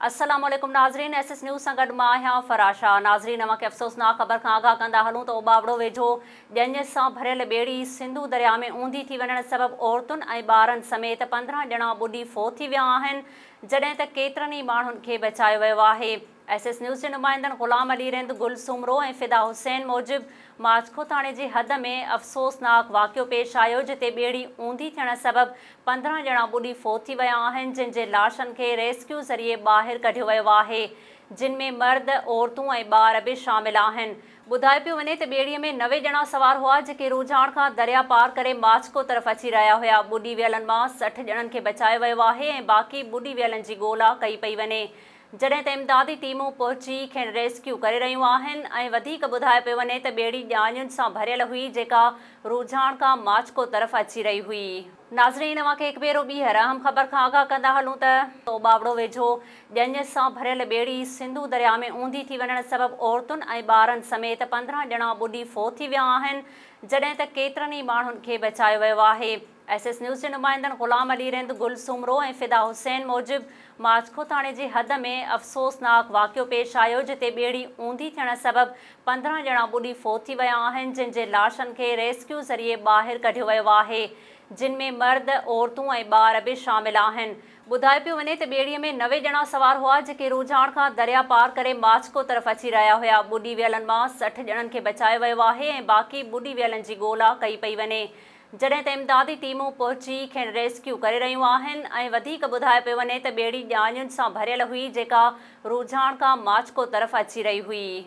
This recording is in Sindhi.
السلام عليڪم ناظرين ايس ايس نيوز سان گڏ مان آهيان فرح شاهه ناظرين اوهان کي افسوسناڪ خبر کان آگاهه ڪندا هلون ته اوٻاوڙو ويجهو ڄڃ سان ڀريل ٻيڙي سنڌو درياء ۾ اونڌي ٿي وڃڻ سبب عورتن ۽ ٻارن سميت پندرهن ڄڻا ٻڏي فوت ٿي ويا آهن جڏهن ته ڪيترن ئي ماڻهن کي بچايو ويو آهي ايس ايس نيوز جي نمائندن غلام علي رند گل سومرو ۽ فدا حسين موجب ماڇڪوٿاڻي جي حد ۾ افسوسناڪ واقعو پيش آيو جتي ٻيڙي اونڌي ٿيڻ سبب پندرهن ڄڻا ٻڏي فوت ٿي ويا آهن جن جي لاشن کي ريسڪيو ذريعي ٻاهر ڪڍيو ويو آهي جن ۾ مرد، عورتون ۽ ٻار به شامل آهن. ٻڌايو پيو وڃي ته ٻيڙي ۾ نوي ڄڻا سوار هئا جيڪي روجهاڻ کان دريا پار ڪري ماڇڪو طرف اچي رهيا هيا ٻڏي ويلن مان سٺ ڄڻن کي بچايو ويو آهي ۽ باقي ٻڏي ويلن جي ڳولا ڪئي پئي وڃي جڏهن ته امدادي ٽيمون پهچي کين ريسڪيو ڪري رهيون آهن ۽ وڌيڪ ٻڌايو پيو وڃي ته ٻيڙي ڄاڃين سان ڀريل هئي جيڪا روجهاڻ کان ماڇڪو طرف اچي رهي هئي. ناظرين اوهان کي هڪ ڀيرو ٻيهر اهم خبر کان آگاهه ڪندا هلون ته تو ٻاوڙو ويجهو ڄڃ سان ڀريل ٻيڙي سنڌو درياء ۾ اونڌي ٿي وڃڻ سبب عورتن ۽ ٻارن سميت پندرهن ڄڻا ٻڏي فوت ٿي ويا آهن جڏهن ته ڪيترن ئي ماڻهن کي بچايو ويو آهي. ايس ايس نيوز جي نمائندن غلام علي رند، گل سومرو ۽ فدا حسين موجب ماڇڪو ٿاڻي جي حد ۾ افسوسناڪ واقعو پيش آيو جتي ٻيڙي اونڌي ٿيڻ سبب پندرهن ڄڻا ٻڏي فوت ٿي ويا آهن جن جي لاشن کي ريسڪيو ذريعي ٻاهر ڪڍيو ويو آهي جن ۾ مرد، عورتون ۽ ٻار به شامل آهن. ٻڌايو پيو وڃي ته ٻيڙي ۾ نوي ڄڻا سوار هئا جيڪي روجهاڻ کان دريا پار ڪري ماڇڪو طرف اچي رهيا هيا ٻڏي ويلن مان سٺ ڄڻن کي بچايو ويو آهي ۽ باقي ٻڏي ويلن جي ڳولا ڪئي پئي وڃي جڏهن ته امدادي ٽيمون پهچي کين ريسڪيو ڪري رهيون آهن ۽ وڌيڪ ٻڌايو پيو وڃي ته ٻيڙي ڄاڃين سان ڀريل هئي جيڪا روجهاڻ کان ماڇڪو طرف اچي رهي هئي.